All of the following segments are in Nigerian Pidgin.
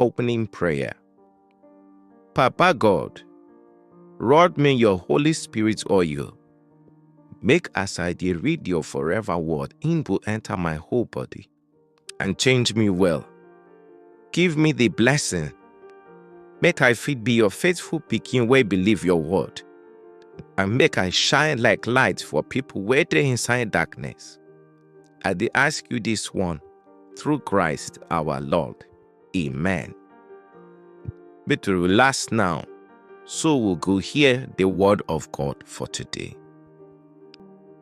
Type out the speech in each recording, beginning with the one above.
Opening Prayer Papa God, rod me your Holy Spirit oil. Make as I dey read your forever word, im go enter my whole body and change me well. Give me the blessing, make I fit be your faithful pikin wey believe your word, and make I shine like light for people wey dey inside darkness. I dey ask you this one through Christ our Lord. Amen. Make to relax now, so we go hear the word of God for today.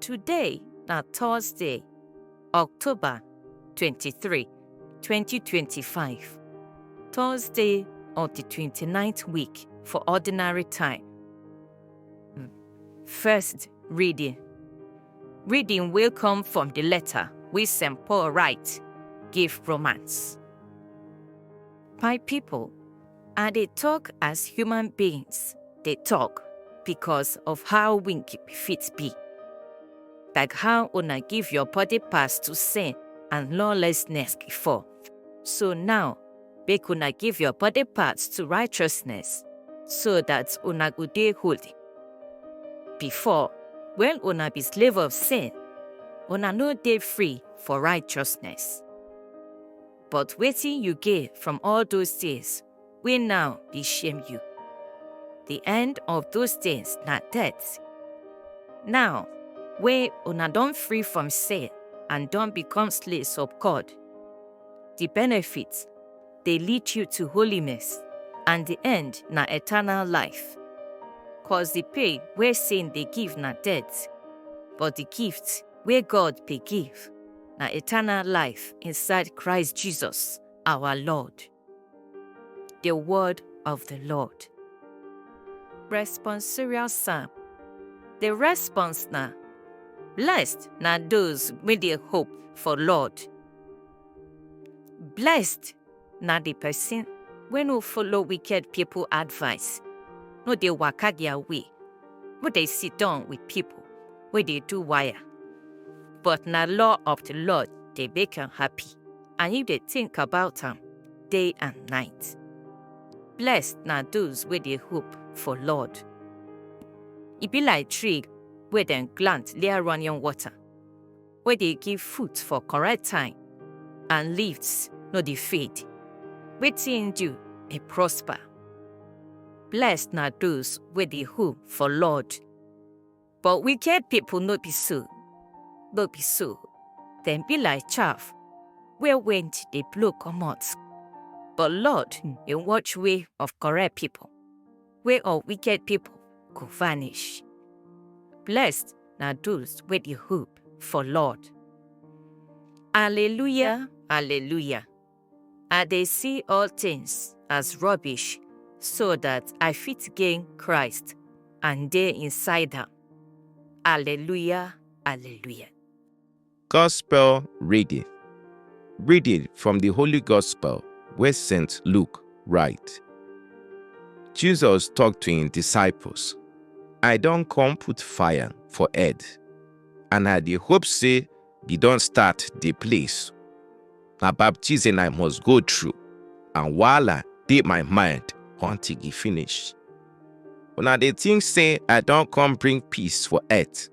Today na Thursday, October 23, 2025. Thursday of the 29th week for ordinary time. First reading Reading will come from the letter we St. Paul write, give romance. My people, I they talk as human beings, they talk because of how winky fit be. Like how una give your body pass to sin and lawlessness before. So now make una give your body parts to righteousness, so that una go dey holy. Before, when una be slave of sin, una no dey free for righteousness. But wetin you gain from all those things wey now dey shame you? The end of those things na death. Now, wey una don free from sin and don become slaves of God, the benefits dey lead you to holiness and the end na eternal life. Cause the pay wey sin dey give na death, but the gift wey God dey give na eternal life inside Christ Jesus our Lord. The word of the Lord. Responsorial Psalm. The response na Blessed na those wey dey hope for Lord. Blessed na the person wey no follow wicked people advice, no dey waka their way, no dey sit down with people wey dey do wire. But na law of the Lord dey make am happy, and he dey think about am day and night. Blessed na those wey dey hope for Lord. E be like tree wey dem plant near running water, wey dey give food for correct time and leaves no dey fade. Wetin im do dey prosper. Blessed na those wey dey hope for Lord. But wicked people no be so, no be so, dem be like chaff wey wind dey blow comot. But Lord dey watch way of correct people. wey all wicked pipo go vanish. Blessed na those wey dey hope for Lord. Alleluia, alleluia. I dey see all tins as rubbish so dat I fit gain Christ and dey inside am. Alleluia, alleluia. Gospel reading. Reading from the Holy Gospel where St. Luke write. Jesus talked to him disciples, I don't come put fire for head, and I the hope say you don't start the place. Na baptism I must go through, and while I did my mind until he finish. When I the thing say I don't come bring peace for earth.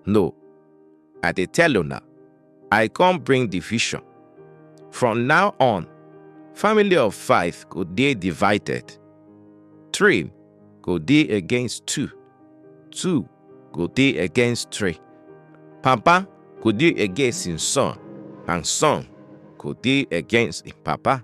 No, I dey tell una, I come bring division. From now on, family of five go dey divided. Three go dey against two. Two go dey against three. Papa go dey against him son, and son go dey against him papa.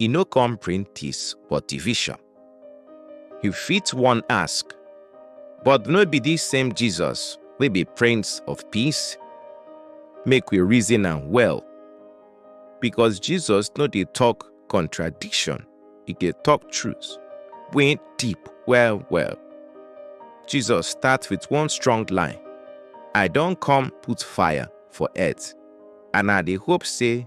e no come bring peace but division. You fit wan ask, but no be this same Jesus wey be Prince of Peace? Make we reason am well, because Jesus no dey talk contradiction, e dey talk truth wey deep well well. Jesus start with one strong line, I don come put fire for earth and I dey hope say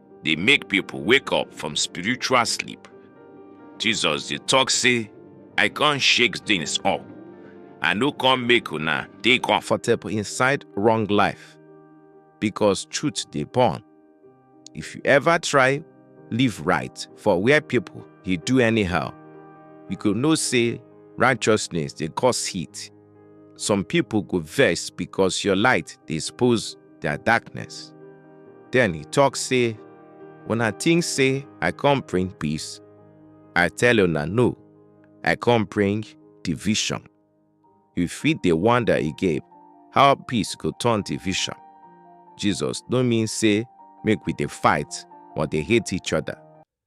dey make pipo wake up from spiritual sleep. Jesus dey tok say, I con shake things up. I no come make una dey comfortable inside wrong life, because truth dey burn. If you ever try live right for where pipo dey do anyhow, you go know say righteousness dey cause heat. Some pipo go vex because your light dey expose their darkness. Then he talk say, When I think say I come bring peace, I tell you na no, I come bring division. You fit dey wonder again how peace go turn division. Jesus no mean say make we dey fight or dey hate each other.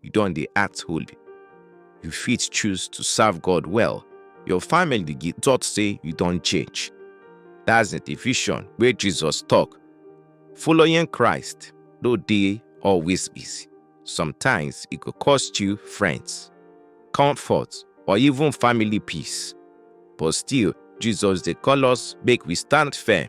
you don dey act holy. You fit choose to serve God well. Your family dey get thought say you don change. That's the division wey Jesus talk. Following Christ no dey always easy. Sometimes e go cost you friends, comfort, or even family peace. But still, Jesus dey call us make we stand firm.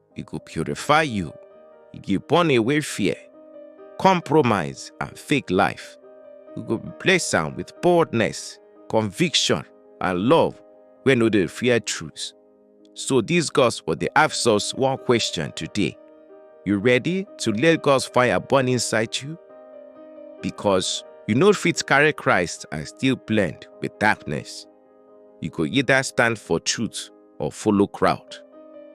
e go purify you, e go burn away fear, compromise, and fake life. You go replace am with boldness, conviction, and love wey no dey fear truth. So this gospel dey ask us one question today. You ready to let God's fire burn inside you? Because you no fit carry Christ and still blend with darkness. You go either stand for truth or follow crowd.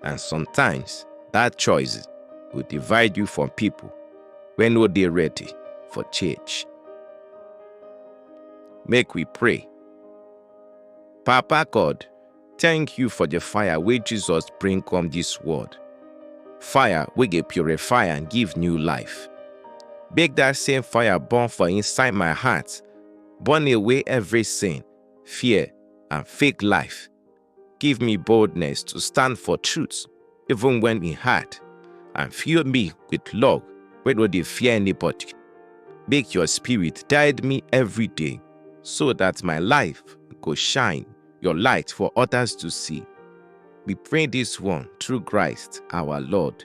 And sometimes that choice will divide you from people when no they ready for change. Make we pray. Papa God, thank you for the fire where Jesus bring come this world. Fire we get purify and give new life. Make that same fire burn for inside my heart, burn away every sin fear, and fake life. Give me boldness to stand for truth, even when e hard, and fill me with love wey no dey fear anybody. Make your spirit guide me every day, so that my life go shine your light for others to see. We pray this one through Christ our Lord.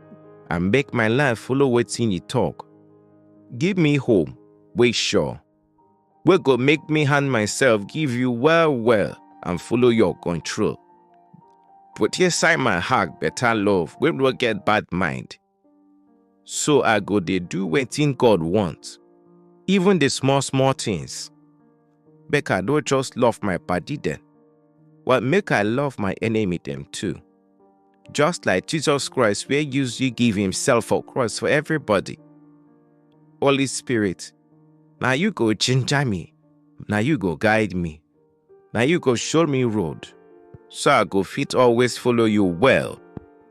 and make my life follow wetin you talk. Give me hope wey sure, wey go make me hand myself give you well well and follow your control. Put inside my heart better love wey no get bad mind. So I go dey do wetin God want, even the small small things. Make I no just love my body dem, but make I love my enemy dem too. Just like Jesus Christ where use you give himself for cross for everybody. Holy Spirit, now you go ginger me, now you go guide me, now you go show me road, so I go fit always follow you well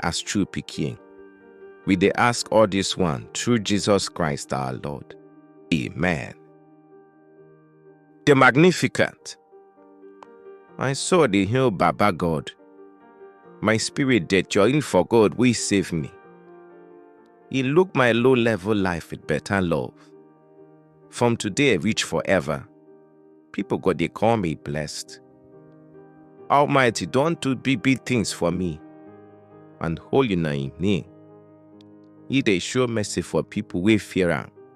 as true picking. We they ask all this one through Jesus Christ our Lord. Amen. the magnificent. My soul dey hail Baba God. My spirit dey join for God wey save me. He look my low level life with better love. From today reach forever, people go dey call me blessed. Almighty don do big big things for me, and holy na him name. He dey show mercy for people wey fear am.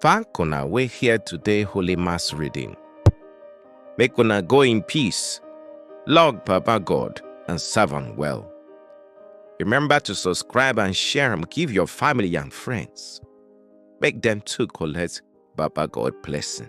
Thank una wey hear today Holy Mass reading. Make una go in peace, log Baba God and serve am well. Remember to subscribe and share am give your family and friends. Make dem too collect Baba God blessing.